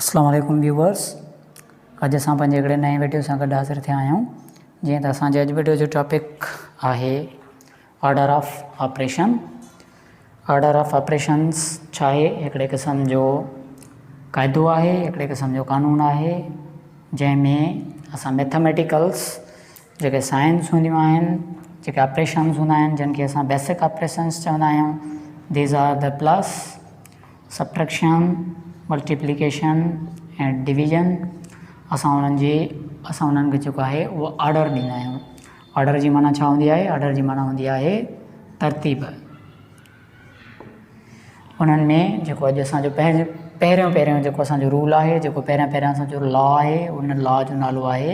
اسلام عليڪم ويوورس اڄ اسان پنهنجي هڪڙي نئين ويڊيو سان گڏ حاضر ٿيا آهيون جيئن ته اسان جي اڄ ويڊيو جو ٽاپڪ آهي order of operation order of operations ڇا آهي هڪڙي قسم جو قاعدو آهي هڪڙي قسم جو قانون آهي جنهن ۾ اسان ميٿامیٽيڪلس جيڪي سائنس هونديون آهن، جيڪي آپريشنز هوندا آهن جن کي اسان بيسڪ آپريشنز چوندا آهيون These are the plus, subtraction, multiplication ۽ division اسان انهن جي اسان انهن کي جيڪو آهي اهو آرڊر ڏيندا آهيون آرڊر جي معنيٰ ڇا هوندي آهي آرڊر جي معنيٰ هوندي آهي ترتيب انهن ۾ جيڪو اڄ اسانجو پهريون پهريون پهريون جيڪو اسانجو رول آهي جيڪو پهريان پهريان اسانجو لا آهي ان لا جو نالو آهي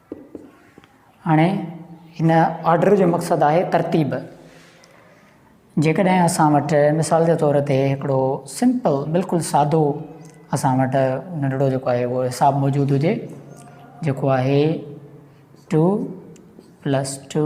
هاڻي هن آرڊر جو مقصد آهي ترتيب جيڪڏهن اسان وٽ مثال جي طور تي هڪڙو سمپل بلڪل سادو اسان وٽ ننڍڙو جيڪو آهي اهو حساب موجود هجي جيڪو آهي two plus two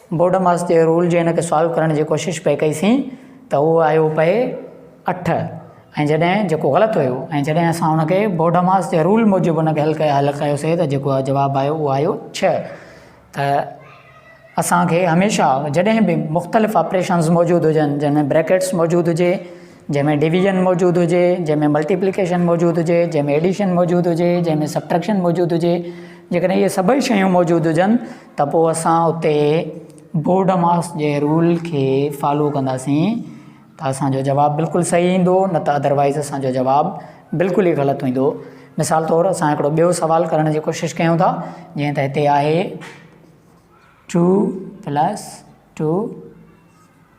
BODMAS جي رول جي ان کي سالو ڪرڻ جي ڪوشش پئي ڪئي سين ته اهو آيو پئي اٺ ۽ جڏهن جيڪو غلط هيو ۽ جڏهن اسان ان کي بورڊ ماس جي رول موجب ان کي حل ڪيو حل ڪيو سي ته جيڪو جواب آيو اهو آيو ڇهه ته اسان کي هميشه جڏهن به مختلف آپريشنز موجود هجن جنهن ۾ بريڪيٽس موجود هجي جنهن ۾ ڊويزن موجود هجي جنهن ۾ ملٽيپليڪيشن موجود هجي جنهن ۾ ايڊيشن موجود هجي جنهن ۾ سبٽريڪشن موجود هجي جيڪڏهن اهي سڀئي شيون موجود هجن ته پوء اسان اتي بورڊ ماس جي رول کي فالو ڪنداسين ته اسان جو جواب بلڪل صحيح ايندو نه ته اڌروائيز اسان جو جواب بلڪل ئي غلط ايندو مثال طور اسان هڪڙو ٻيو سوال ڪرڻ جي ڪوشش ڪيون ٿا جيئن ته هتي آهي ٽو پلس ٽو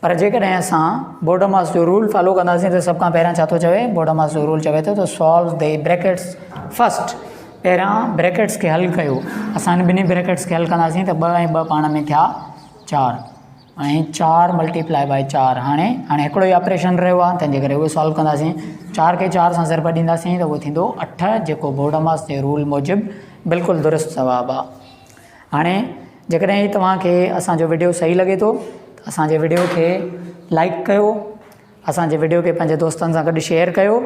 پر جيڪڏهن اسان بورڊماس جو رول فالو ڪنداسين ته سڀ کان پهريان ڇا ٿو چوي؟ بورڊماس جو رول چوي ٿو ته سالو دي بريڪيٽس فرسٽ، پهريان بريڪيٽس کي حل ڪيو، اسان هن ٻنهي بريڪيٽس کي حل ڪنداسين ته ٻه ۽ ٻه پاڻ ۾ ٿيا چار ۽ چار ملٽي پلائي بائي چار هاڻي هاڻي هڪڙو ئي آپريشن رهيو آهي تنهنجي ڪري اهو سالو ڪنداسين چار کي چار سان ضرب ڏينداسين ته اهو ٿيندو اٺ جيڪو بورڊماس جي رول موجب بلڪل درست جواب آهي. هاڻي جيڪڏهن هي توهان کي اسان جو وڊيو صحيح لڳي ٿو ته اسان جي وڊيو کي لائڪ ڪيو اسان جي وڊيو کي پنهنجي دوستن سان گڏ شيئر ڪيو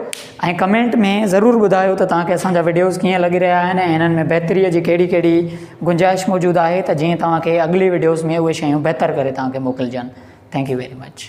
۽ ڪمينٽ ۾ ضرور ٻڌايو ته توهان کي اسان جا وڊيوز ڪيئن لڳي رهيا آهن ۽ هنن ۾ بهتري جي ڪهڙي ڪهڙي گنجائش موجود آهي ته جيئن توهان کي اڳلي وڊيوز ۾ اهي شيون بهتر ڪري توهان کي موڪلجن ٿينڪ يو ويري مچ